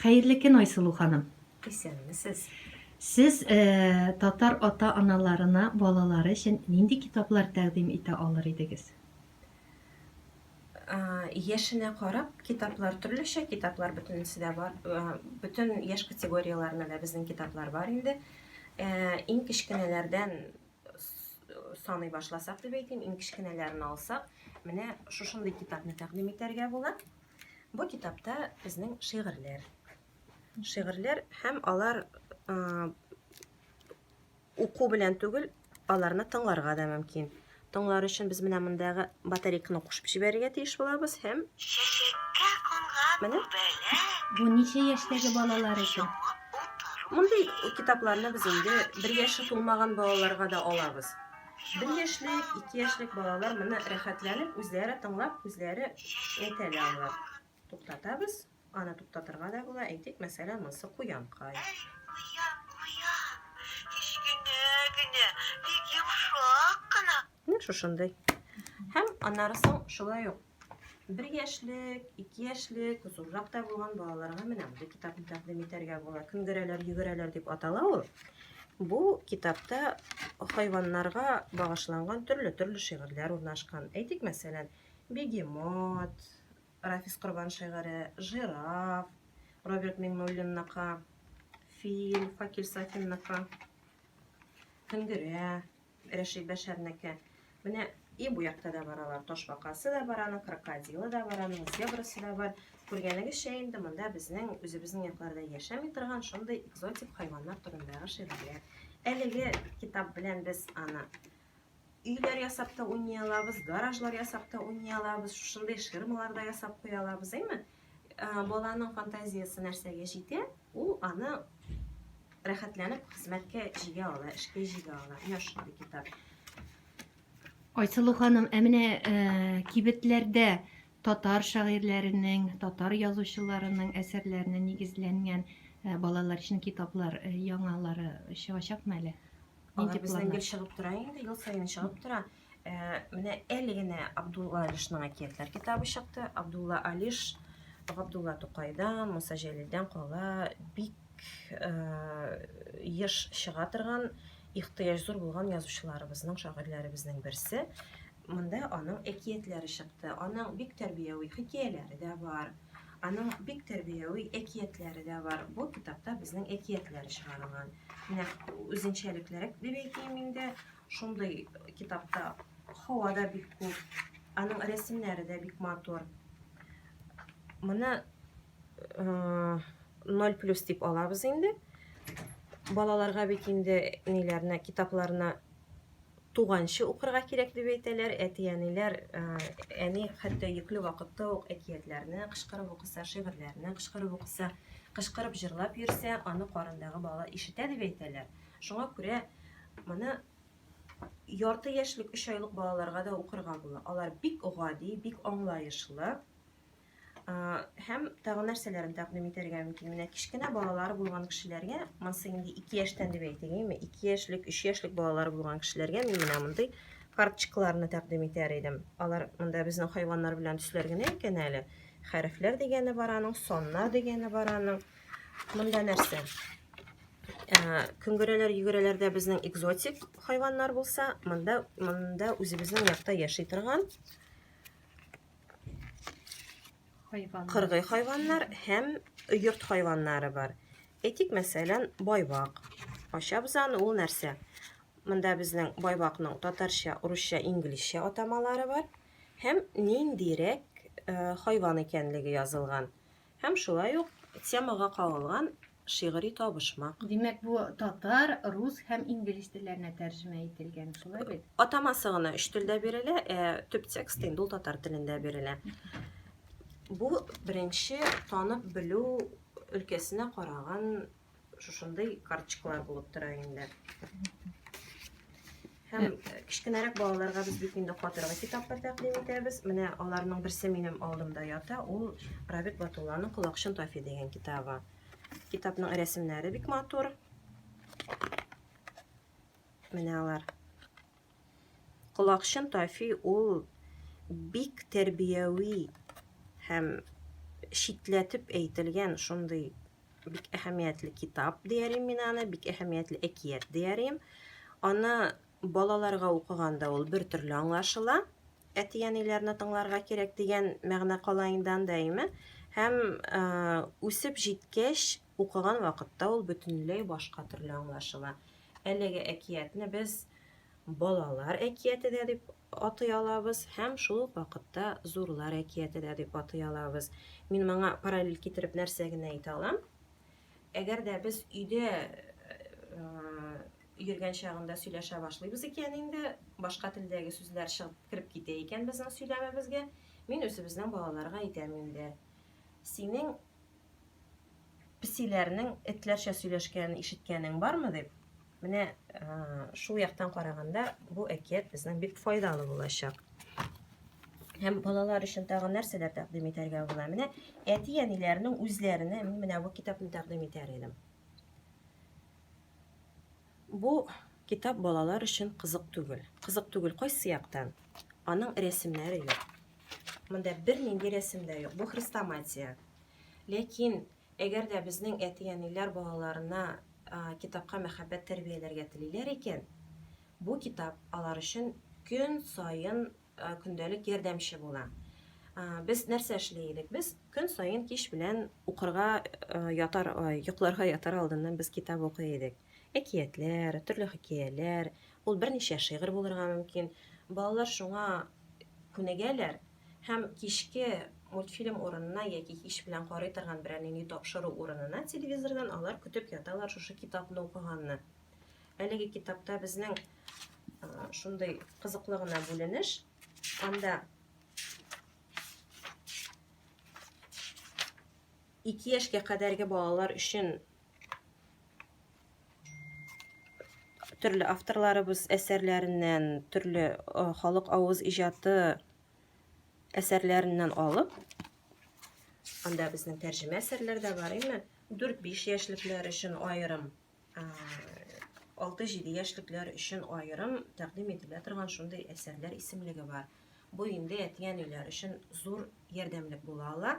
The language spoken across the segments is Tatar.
Хәерле көн, Айсылу ханым! Исәнмесез! Сез татар ата-аналарына балалары өчен нинди китаплар тәкъдим итә алыр идегез? Яшенә карап, китаплар төрлечә, китаплар бөтенесе дә бар. Бөтен яшь категорияләренә дә безнең китаплар бар инде. Иң кечкенәләрдән саный башласак дип әйтим, иң кечкенәләрен алсак, менә шушындый китапны тәкъдим итәргә була. Бу китапта безнең шигырьләр. Шигырьләр һәм алар уку белән түгел, аларны тыңларга да мөмкин. Тыңлар өчен без менә мондагы батарейканы кушып җибәрергә тиеш булабыз һәм Чәчәккә кунган Менә. Бу ничә яшьтәге балалар өчен? Мондый китапларны без инде бер яше тулмаган балаларга да алабыз. Бер яшьлек, ике яшьлек балалар моны рәхәтләнеп үзләре тыңлап, үзләре әйтә дә алар. Туктатабыз, аны туктатырга да була, әйтик, мәсәлән, монсы куянкай. Куян, куян, кечкенә генә, бик йомшак кына. Менә шушындый. Һәм аннары соң шулай ук Бер яшьлек, ике яшьлек, зуррак та булган балаларга менә мондый китапны тәкъдим итәргә була. Көнгерәләр, йөгерәләр дип атала ул. Бу китапта хайваннарга багышланган төрле-төрле шигырьләр урнашкан. Әйтик, мәсәлән, бегемот, Рафис Корбан шигыре, жираф, Роберт Миңнуллинныкы, фил, Факил Сафинныкы, көнгерә, Рәшит Бәшәрнеке. Менә и бу якта да бар алар. Ташбакасы да бар аның, крокодилы да бар аның, зебрасы да бар. Күргәнегезчә инде монда безнең үзебезнең якларда яшәми торган шундый экзотик хайваннар турындагы шигырьләр. Әлеге китап белән без аны өйләр ясап та уйный алабыз, гаражлар ясап та уйный алабыз, шушындый ширмалар да ясап куя алабыз, әйме? Баланың фантазиясе нәрсәгә җитә, ул аны рәхәтләнеп хезмәткә җигә ала, эшкә җигә ала. Менә шундый китап. Айсылу ханым, ә менә э, кибетләрдә татар шагыйрьләренең, татар язучыларының әсәрләренә нигезләнгән э, балалар өчен китаплар э, яңалары чыгачакмы әле? Алар безнең гел чыгып тора инде, ел саен чыгып тора. Ә, менә әле генә Абдулла Алишның әкиятләр китабы чыкты. Абдулла Алиш Габдулла Тукайдан, Муса Җәлилдән кала бик еш чыга торган, ихтыяҗ зур булган язучыларыбызның, шагыйрьләребезнең берсе. Монда аның әкиятләре чыкты. Аның бик тәрбияви хикәяләре дә бар. Аның бик тәрбияви әкиятләре дә бар. Бу китапта безнең әкиятләр чыгарылган. Менә үзенчәлекләре дип әйтим инде. Шундый китапта һава да бик күп, аның рәсемнәре дә бик матур. Моны 0 плюс дип алабыз инде. Балаларга бит инде ниләрне, китапларны туганчы укырга кирәк дип әйтәләр. Әти-әниләр, әни хәтта йөкле вакытта ук әкиятләрне кычкырып укыса, шигырьләрне кычкырып укыса, кычкырып җырлап йөрсә, аны карындагы бала ишетә дип әйтәләр. Шуңа күрә моны ярты яшьлек, өч айлык балаларга да укырга була. Алар бик гади, бик аңлаешлы. Һәм тагын нәрсәләрен тәкъдим итәргә мөмкин. Менә кечкенә балалары булган кешеләргә, монысы инде 2 яшьтән дип әйтәйме, 2 яшьлек, 3 яшьлек балалары булган кешеләргә мин менә мондый карточкаларны тәкъдим итәр идем. Алар монда безнең хайваннар белән төсләр генә икән әле. Хәрефләр дигәне бар аның, саннар дигәне бар аның. Монда нәрсә? Ә, көңгерәләр, йөгерәләрдә безнең экзотик хайваннар булса, монда, монда үзебезнең якта яши торган хайваннар. Кыргый хайваннар һәм йорт хайваннары бар. Әйтик, мәсәлән, байбак. Ачабыз аны, ул нәрсә? Монда безнең байбакның татарча, урысча, инглизчә атамалары бар һәм ниндирәк э, хайван икәнлеге язылган. Һәм шулай ук темага кагылган шигъри табышмак. Димәк, бу татар, рус һәм инглиз телләренә тәрҗемә ителгән, шулай бит? Атамасы гына өч телдә бирелә, ә төп текст инде ул татар телендә бирелә. Бу беренче танып белү өлкәсенә караган шушындый карчыклар булып тора инде. Һәм э, кечкенәрәк балаларга без бик инде катыргы китаплар тәкъдим итәбез. Менә аларның берсе минем алдымда ята, ул Равит Батулланың Колакчын Тафи дигән китабы. Китапның рәсемнәре бик матур. Менә алар. Колакчын Тафи ул бик тәрбияви һәм читләтеп әйтелгән шундый бик әһәмиятле китап диярим мин аны, бик әһәмиятле әкият диярим. Аны балаларга укыганда ул бер төрле аңлашыла. Әти-әниләрне тыңларга кирәк дигән мәгънә кала инде анда, әйме? Һәм үсеп җиткәч, Укыган вакытта ул бөтенләй башка төрле аңлашыла. Әлеге әкиятне без балалар әкияте дә дип атый алабыз һәм шул ук вакытта зурлар әкияте дә дип атый алабыз. Мин моңа параллель китереп нәрсә генә әйтә алам? Әгәр дә без өйдә йөргән чагында сөйләшә башлыйбыз икән инде, башка телдәге сүзләр чыгып кереп китә икән безнең сөйләмебезгә, мин үзебезнең балаларга әйтәм инде. Синең песиләрнең этләрчә сөйләшкәнен ишеткәнең бармы дип менә шул яктан караганда бу әкият безнең бик файдалы булачак һәм балалар өчен тагы нәрсәләр тәкъдим итәргә була менә әти әниләрнең үзләренә мин менә бу китапны тәкъдим итәр идем Бу китап балалар өчен кызык түгел. Кызык түгел кайсы яктан? Аның рәсемнәре юк. Монда бернинди рәсем дә юк. Бу хрестоматия. Ләкин әгәр дә безнең әти-әниләр балаларына китапка мәхәббәт тәрбияләргә телиләр икән, бу китап алар өчен көн саен көндәлек ярдәмче була. Без нәрсә эшли идек? Без көн саен кич белән укырга ятар, йокларга ятар алдыннан без китап укый идек. Әкиятләр, төрле хикәяләр, ул берничә шигырь булырга мөмкин. Балалар шуңа күнегәләр һәм кичке мультфильм урынына яки кич белән карый торган берәр нинди тапшыру урынына телевизордан алар көтеп яталар шушы китапны укыганны. Әлеге китапта безнең шундый кызыклы гына бүленеш. Анда ике яшькә кадәрге балалар өчен төрле авторларыбыз әсәрләреннән, төрле халык авыз иҗаты әсәрләреннән алып, анда безнең тәрҗемә әсәрләр дә бар, әйме? 4-5 яшьлекләр өчен аерым 6-7 яшьлекләр өчен аерым тәкъдим ителә торган шундый әсәрләр исемлеге бар. Бу инде әти-әниләр өчен зур ярдәмлек була ала.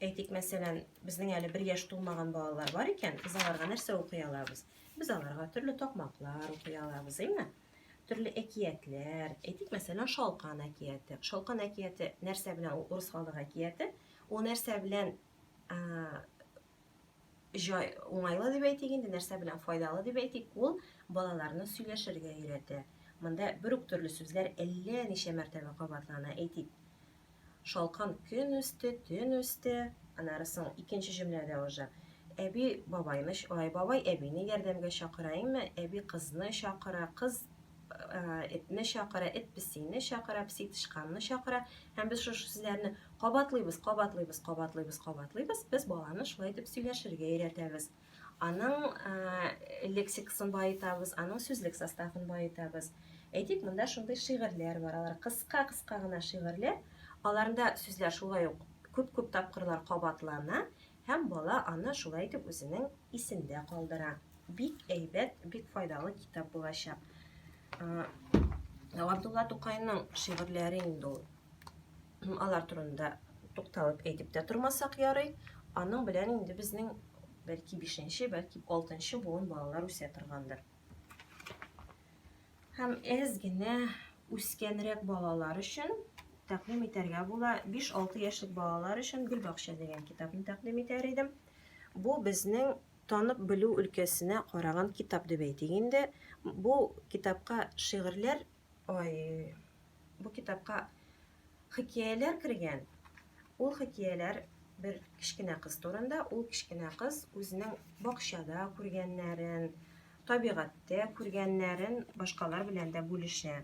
Әйтик, мәсәлән, безнең әле бер яшь тулмаган балалар бар икән, без аларга нәрсә укый алабыз? Без аларга төрле такмаклар укый алабыз, әйме? Төрле әкиятләр, әйтик, мәсәлән, Шалкан әкияте. Шалкан әкияте нәрсә белән ул урыс халык әкияте? Ул нәрсә белән җай уңайлы дип әйтик инде нәрсә белән файдалы дип әйтик ул балаларны сөйләшергә өйрәтә монда бер үк төрле сүзләр әллә ничә мәртәбә кабатлана әйтик шалкан көн үсте төн үсте анары соң икенче җөмләдә уже әби бабайны ай бабай әбине ярдәмгә чакыра әйме әби кызны чакыра кыз этне чакыра эт песине чакыра песи тычканны чакыра һәм без шушы сүзләрне Кабатлыйбыз, кабатлыйбыз, кабатлыйбыз, кабатлыйбыз. Без баланы шулай итеп сөйләшергә өйрәтәбез. Аның ә, лексикасын баетабыз, аның сүзлек составын баетабыз. Әйтик, монда шундый шигырьләр бар, алар кыска-кыска гына шигырьләр. Аларында сүзләр шулай ук күп-күп тапкырлар кабатлана һәм бала аны шулай итеп үзенең исендә калдыра. Бик әйбәт, бик файдалы китап булачак. Габдулла Тукайның шигырьләре инде ул. Алар турында тукталып әйтеп тә тормасак ярый. Аның белән инде безнең бәлки 5-нче, бәлки 6-нчы буын балалар үсә торгандыр. Һәм әз генә үскәнрәк балалар өчен тәкъдим итәргә була. 5-6 яшьлек балалар өчен Гөлбакча дигән китапны тәкъдим итәр идем. Бу безнең танып белү өлкәсенә караган китап дип әйтик инде. Бу китапка шигырьләр Ой, бу китапка хикәяләр кергән. Ул хикәяләр бер кечкенә кыз турында. Ул кечкенә кыз үзенең бакчада күргәннәрен, табигатьтә күргәннәрен башкалар белән дә бүлешә.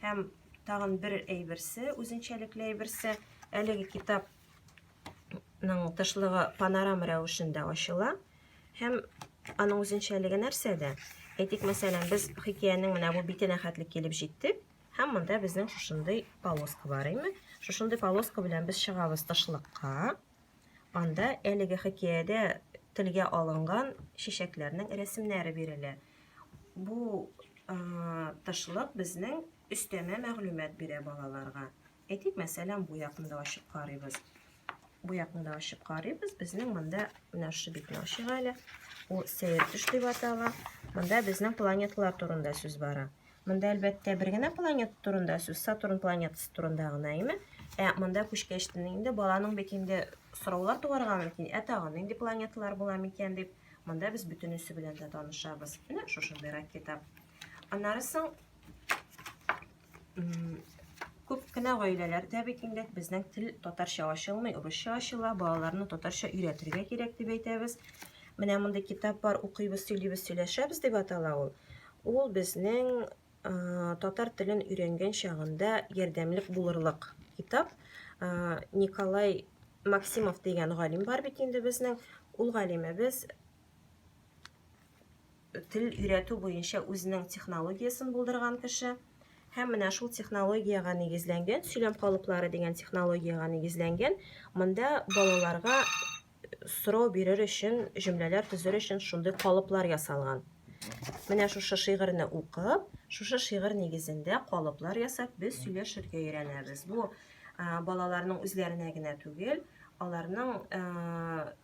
Һәм тагын бер әйберсе, үзенчәлекле әйберсе, әлеге китап тышлыгы панорам рәвешендә ачыла һәм аның үзенчәлеге нәрсәдә? Әйтик, мәсәлән, без хикәянең менә бу битенә хәтле килеп җиттек һәм монда безнең шушындый полоска бар име? Шушындый полоска белән без чыгабыз тышлыкка. Анда әлеге хикәядә телгә алынган чәчәкләрнең рәсемнәре бирелә. Бу тышлык безнең өстәмә мәгълүмат бирә балаларга. Әйтик, мәсәлән, бу якны да ачып карыйбыз. Бу якны да ачып карыйбыз. Безнең монда менә шушы битне ачыйк әле. Ул сәер төш дип атала. Монда безнең планеталар турында сүз бара. Монда әлбәттә бер генә планета турында сүз, Сатурн планетасы турында гына, әйме? Ә монда күчкәч инде баланың бит инде сораулар туарга мөмкин, ә тагын нинди планеталар була микән дип. Монда без бөтенесе белән дә танышабыз. Менә шушындый ракета. Аннары соң Күп кенә гаиләләрдә бит инде безнең тел татарча ачылмый, урысча ачыла, балаларны татарча өйрәтергә кирәк дип әйтәбез. Менә мондый китап бар, укыйбыз, сөйлибез, сөйләшәбез дип атала ул. Ул безнең татар телен өйрәнгән чагында ярдәмлек булырлык китап. Николай Максимов дигән галим бар бит инде безнең. Ул галимебез тел өйрәтү буенча үзенең технологиясен булдырган кеше һәм менә шул технологиягә нигезләнгән сөйләм калыплары дигән технологиягә нигезләнгән монда балаларга сорау бирер өчен җөмләләр төзер өчен шундый калыплар ясалган менә шушы шигырьне укып шушы шигырь нигезендә калыплар ясап без сөйләшергә өйрәнәбез бу балаларның үзләренә генә түгел аларның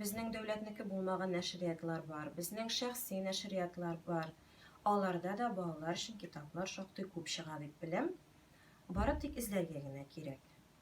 Безнең дәүләтнеке булмаган нәшриятлар бар, безнең шәхси нәшриятлар бар. Аларда да балалар өчен китаплар шактый күп чыга дип беләм. Бары тик эзләргә генә кирәк.